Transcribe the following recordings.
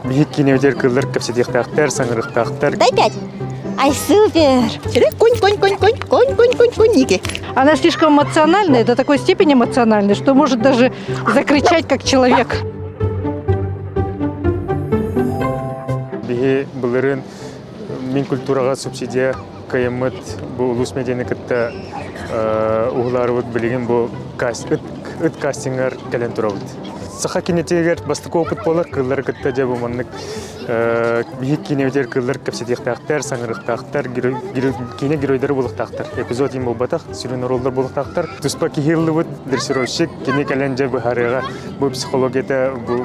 Биһик кинилэр кыллар кэпсэтиэхтээхтэр, саҥарыахтаахтар. Дай пять. Ай, супер! Конь-конь-конь-конь-конь, конь-конь-конь-конь, Ники. Она слишком эмоциональная, до такой степени эмоциональная, что может даже закричать как человек. Биһи былырын Мин культураҕа субсидия кыйаммыт бу улус медианы кытта уһулаарыбыт билигин бу ыт кастингар кэлэн турабыт. Саха кинитигэр бастакы опыт буолар кыыллары кытта дьэ бу маннык биһик киинэбитигэр кыыллар кэпсэтиэхтээхтэр, саҥарыахтаахтар, киинэ геройдары булахтаахтар. Эпизод им болбатах, сүрүн ороллор булахтаахтар. Туспа киһи ыллыбыт дрессировщик кини кэлэн дьэ быһаарыаҕа бу психологията бу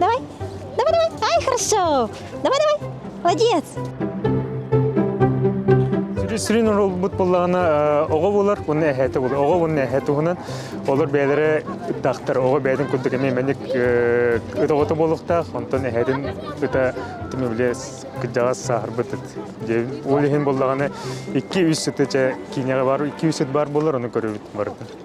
Давай, давай, давай, ай, хорошо, давай, давай, молодец. Сүрүн ролбут буллаҕына оҕо булар уонна эһээтэ булар оҕо уонна эһэ туһунан олор бэйэлэрэ ыттахтар оҕо бэйэтин курдук эмиэ мэник ыт оҕото буолуохтаах онтон эһэтин ыта тимэ били кырдьаҕас сааһырбыт ыт ол иһин буллаҕына икки үс ыты чэ киинэҕэ бар икки үс ыт баар буолар ону көрүбүт барыта